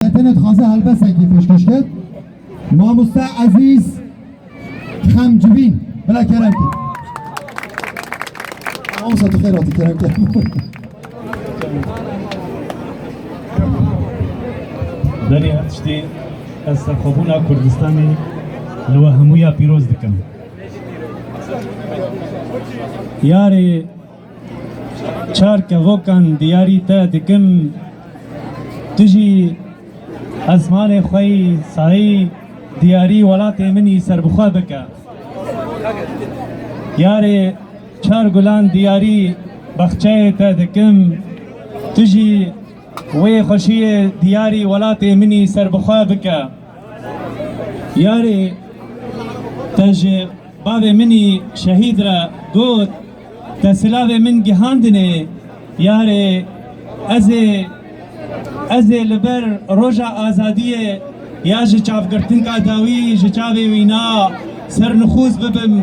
Tenê dixwaze helbesekê pêşkêş kir. Mamoste Ezîz Xemcivîn bila kerem kir. Mamoste tu xêr hatî kerem kir. Berê her tiştê ez serxwebûna Kurdistanê li we hemûya pîroz dikim. Yarê Çar kevokan diyarî te dikim tu jî esmanê xwe yî sayî diyarî welatê min yî serbixwe bike. Yarê çar gulan diyarî bexçeyê te dikim tu jî wê xweşiyê diyarî welatê min yî serbixwe bike. Yarê te ji bavê min yî şehîd re got Te silavê min gihandinê yarê ez ê ez ê li ber roja azadiyê ya ji çavgirtinka dawî ji çavê wîna sernixûz bibim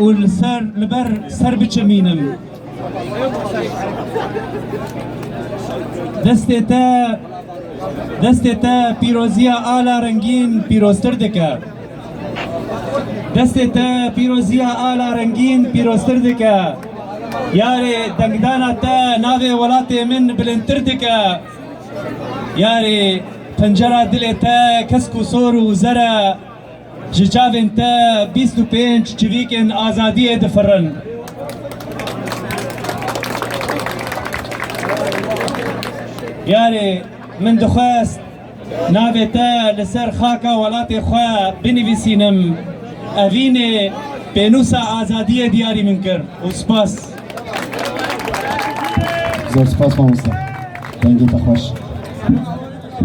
û li ser li ber ser biçimînim. Destê te destê te pîroziya ala rengîn pîroztir dike. Destê te pîroziya ala rengîn pîroztir dike. Yarê dengdana te navê welatê min bilindtir dike. Yarê pencera dilê te kesk û sor û zer e. Ji çavên te bîst û pênc çivîkên azadiyê difirin. Yarê min dixwest Navê te li ser xaka welatê xwe binivîsînim. Evînê pênûsa azadiyê diyarî min kir û spas. Zor spas mamoste. Dengê te xweş.